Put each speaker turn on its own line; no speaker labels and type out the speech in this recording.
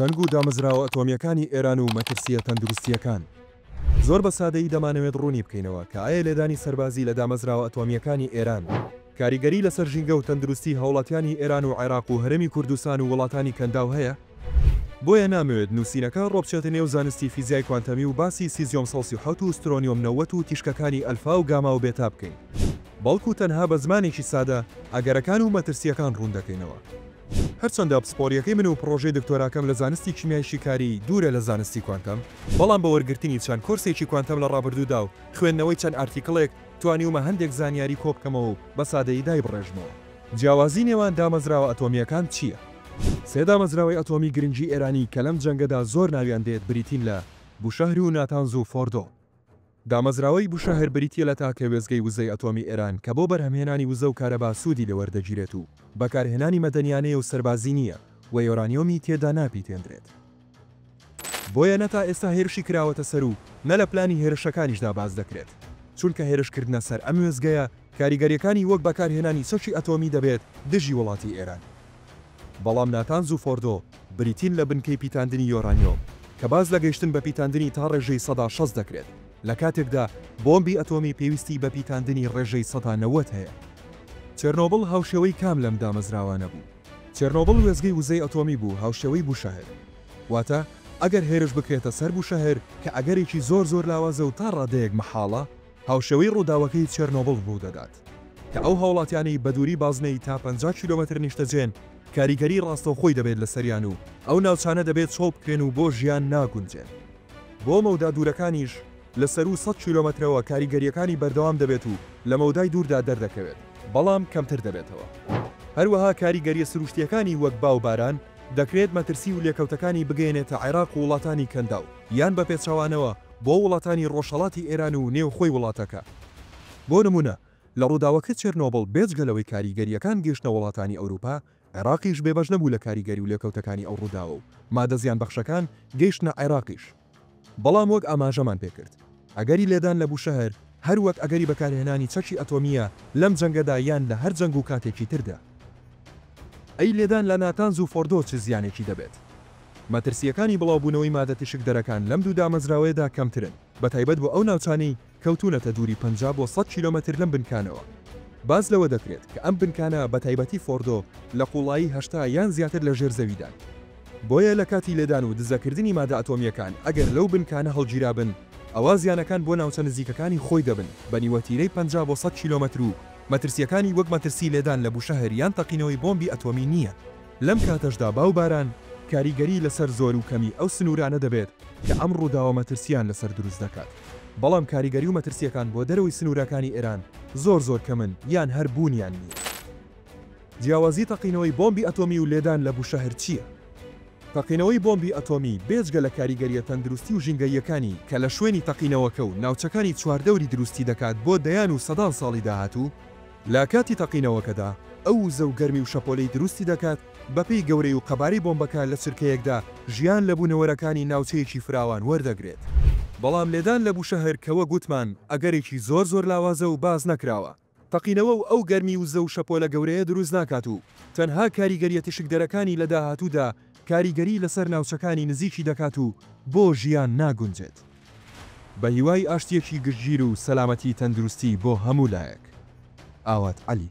جەنگ و دامەزراوە ئەتۆمییەکانی ئێران و مەترسییە تەندروستییەکان. زۆر بە سادەیی دەمانەوێت ڕوونی بکەینەوە کە ئایا لێدانی سەربازی لە دامەزراوە ئەتۆمییەکانی ئێران کاریگەری لەسەر ژینگە و تەندروستی هاوڵاتیانی ئێران و عێراق و هەرێمی کوردستان و وڵاتانی کەنداو هەیە؟ بۆیە نامەوێت نووسینەکە ڕۆبچێتە نێو زانستی فیزیای کوانتەمی و باسی سیزیۆم سەد و سی و حەوت و سترۆنیۆم نەوەد و تیشکەکانی ئەلفا و گاما و بێتا بکەین، بەڵکو تەنها بە زمانێکی سادە ئەگەرەکان و مەترسییەکان ڕوون دەکەینەوە. هەرچەندە پسپۆرییەکەی من و پڕۆژەی دکتۆراکەم لە زانستی کیمیای شیکاری دوورە لە زانستی کوانتەم، بەڵام بە وەرگرتنی چەند کۆرسێکی کوانتەم لە ڕابردوودا و خوێندنەوەی چەند ئارتیکڵێک، توانیومە هەندێک زانیاری کۆبکەمەوە و بە سادەیی دایبڕێژمەوە. جیاوازی نێوان دامەزراوە ئەتۆمییەکان چییە؟ سێ دامەزراوەی ئەتۆمی گرنگی ئێرانی کە لەم جەنگەدا زۆر ناویان دێت بریتین لە، بوشەهر و ناتانز و فۆردۆ. دامەزراوەی بوشەهر بریتییە لە تاکە وێستگەی وزەی ئەتۆمی ئێران کە بۆ بەرهەمهێنانی وزە و کارەبا سوودی لێ وەردەگیرێت و بەکارهێنانی مەدەنیانەیە و سەربازی نییە و یۆرانیۆمی تێدا ناپیتێندرێت. بۆیە نە تا ئێستا هێرشی کراوەتە سەر و نە لە پلانی هێرشەکانیشدا باس دەکرێت. چونکە هێرشکردنە سەر ئەم وێستگەیە کاریگەرییەکانی وەک بەکارهێنانی چەکی ئەتۆمی دەبێت دژی وڵاتی ئێران. بەڵام ناتانز و فۆردۆ بریتین لە بنکەی پیتاندنی یۆرانیۆم کە باس لە گەیشتن بە پیتاندنی تا ڕێژەی سەدا شەست دەکرێت لە کاتێکدا بۆمبی ئەتۆمی پێویستی بە پیتاندنی ڕێژەی سەدا نەوەد هەیە. چێرنۆبڵ هاوشێوەی کام لەم دامەزراوانە بوو؟ چێرنۆبڵ وێستگەی وزەی ئەتۆمی بوو هاوشێوەی بوشەهر. واتە ئەگەر هێرش بکرێتە سەر بوشەهر کە ئەگەرێکی زۆر زۆر لاوازە و تا ڕادەیەک مەحاڵە، هاوشێوەی ڕووداوەکەی چێرنۆبڵ ڕوودەدات. کە ئەو هاوڵاتیانەی بەدووری بازنەی تا پەنجا کیلۆمەتر نیشتەجێن کاریگەری ڕاستەوخۆی دەبێت لەسەریان و ئەو ناوچانە دەبێت چۆڵ بکرێن و بۆ ژیان ناگونجێن. بۆ مەودا دوورەکانیش لە سەروو سەد کیلۆمەترەوە کاریگەرییەکانی بەردەوام دەبێت و لە مەودای دووردا دەردەکەوێت بەڵام کەمتر دەبێتەوە. هەروەها کاریگەرییە سروشتییەکانی وەک با و باران دەکرێت مەترسی و لێکەوتەکانی بگەیەنێتە عێراق و وڵاتانی کەنداو یان بەپێچەوانەوە بۆ وڵاتانی ڕۆژهەڵاتی ئێران و نێوخۆی وڵاتەکە. بۆ نموونە لە ڕووداوەکە چێرنۆبڵ بێجگە لەوەی کاریگەرییەکان گەیشتە وڵاتانی ئەوروپا، عێراقیش بێبەش نەبوو لە کاریگەری و لێکەوتەکانی ئەو ڕووداوە و مادە زیانبەخشەکان گەیشتنە عێراقیش. بەڵام وەک ئاماژەمان پێکرد ئەگەری لێدان لە بوشەهر هەر وەک ئەگەری بەکارهێنانی چەکی ئەتۆمییە لەم جەنگەدا یان لە هەر جەنگ و کاتێکی تردا. ئەی لێدان لە ناتانز و فۆردۆ چ زیانێکی دەبێت؟ مەترسییەکانی بڵاوبوونەوەی مادە تیشکدەرەکان لەم دوو دامەزراوەیەدا کەمترن، بەتایبەت بۆ ئەو ناوچانەی کەوتوونەتە دووری پەنجا بۆ سەد کیلۆمەتر لەم بنکانەوە. باس لەوە دەکرێت کە ئەم بنکانە بە تایبەتی فۆردۆ لە قووڵایی هەشتا یان زیاتر لە ژێر زەویدان. بۆیە لە کاتی لێدان و دزەکردنی مادە ئەتۆمییەکان ئەگەر لەو بنکانە هەڵگیرابن ئەوا زیانەکان بۆ ناوچە نزیکەکانی خۆی دەبن بە نیوەتیرەی پەنجا بۆ سەد کیلۆمەتر و مەترسییەکانی وەک مەترسی لێدان لە بوشەهر یان تەقینەوەی بۆمبی ئەتۆمی نییە. لەم کاتەشدا با و باران کاریگەری لەسەر زۆر و کەمی ئەو سنوورانە دەبێت کە ئەم ڕووداوە مەترسییان لەسەر دروست دەکات، بەڵام کاریگەری و مەترسییەکان بۆ دەرەوەی سنوورەکانی ئێران زۆر زۆر کەمن یان هەر بوونیان نییە. جیاوازی تەقینەوەی بۆمبی ئەتۆمی و لێدان لە بوشەهر چییە؟ تەقینەوەی بۆمبی ئەتۆمی بێجگە لە کاریگەرییە تەندروستی و ژینگەییەکانی کە لە شوێنی تەقینەوەکە و ناوچەکانی چواردەوری دروستی دەکات بۆ دەیان و سەدان ساڵی داهاتوو، لە کاتی تەقینەوەکەدا ئەو وزە و گەرمی و شەپۆلەی دروستی دەکات، بەپێی گەورەی و قەبارەی بۆمبەکە لە چرکەیەکدا ژیان لە بوونەوەرەکانی ناوچەیەکی فراوان وەردەگرێت. بەڵام لێدان لە بوشەهر کە وەک وتمان ئەگەرێکی زۆر زۆر لاوازە و باس نەکراوە، تەقینەوە و ئەو گەرمی وزە و شەپۆلە گەورەیە دروست ناکات و تەنها کاریگەریە تیشکدەرەکانی لە داهاتوودا کاریگەری لەسەر ناوچەکانی نزیکی دەکات و بۆ ژیان ناگونجێت. بەهیوای ئاشتیەکی گشتگیر و سەلامەتی تەندروستی بۆ هەموو لایەک. ئاوات عەلی.